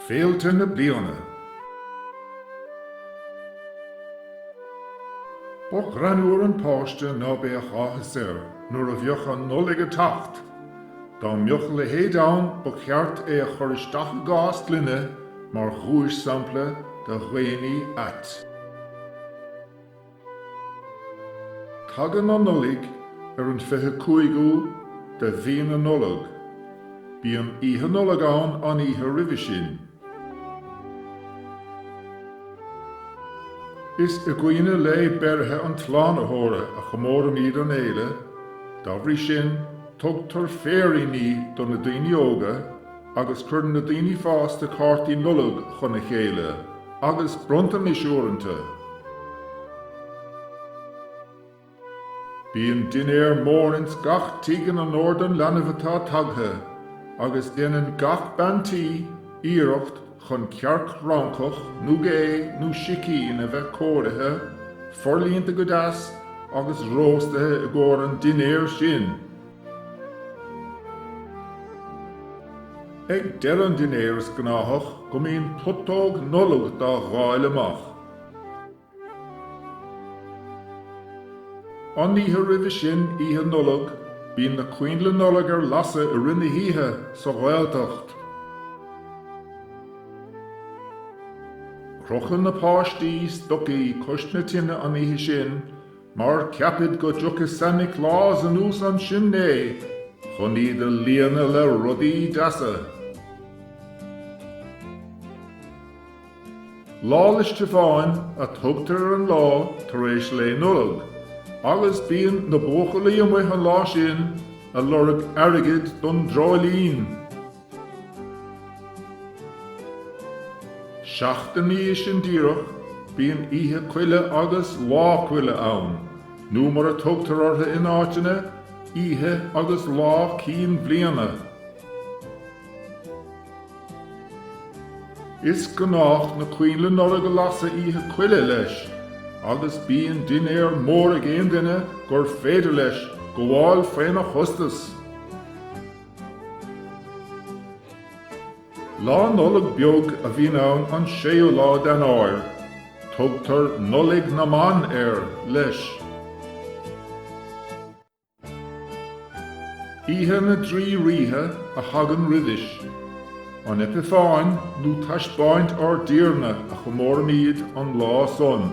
Féilte na Bliana Ba ghreannmhar an páiste ná beadh áthas air nuair a bheadh an Nollaig ag teacht. Dá mbeadh a leithéid ann ba cheart é a chur isteach i gcás gloine mar dhuais-sampla de dhaonnaí ait. Tagann an Nollaig ar an fiche cúigiú de mhí na Nollag. Bíonn Oíche Nollag ann an oíche roimhe sin. Is i gcuimhne lae beirthe an tSlánaitheora a chomóraimíd an fhéile, da bhrí sin tugtar féiríní do na daoine óga, agus cuireann na daoine fásta cártaí Nollag chun a chéile agus bronntanais uaireanta. Bíonn dinnéar mór ins gach tigh in onóir don leanbh atá tagtha agus déanann gach bean tí iarracht chun cearc fhrancach nó gé nó sicín a bheith cóirithe, forlíonta go deas agus róstaithe i gcomhair an dinnéir sin. Ag deireadh an dinnéir is gnáthach go mbíonn putóg Nollag dá dháil amach. An oíche roimhe sin, Oíche Nollag, bíonn na coinnle Nollag ar lasadh i rith na hoíche sa Ghaeltacht. Crochann na páistí stocaí cois na tine an oíche sin Mar ceapaid go dtiocfadh Santa Claus anuas an simné chun iad a líonadh le rudaí deasa. Lá 'le Stiofáin a tugtar ar an lá tar éis lae Nollag agus bíonn na buachaillí amuigh an lá sin ag lorg airgid don dreoilín. Seachtain uaidh sin díreach, bíonn Oíche Coille agus Lá Coille ann, nó mar a tugtar ortha in áiteanna, Oíche agus Lá Cinn Bliana. Is gnách na coinnle Nollag a lasadh Oíche Coille leis, agus bíonn dinnéar mór ag aon duine gur féidir leis gabháil faona chostas. Lá Nollag Beag a bhíonn ann an séú lá d'Eanáir. Tugtar Nollaig na mBan air, leis. Oíche na dTrí Rithe a thagann roimhis. An Eipeafáine nó Taispeáint Ár dTiarna a chomóraimíd an lá san.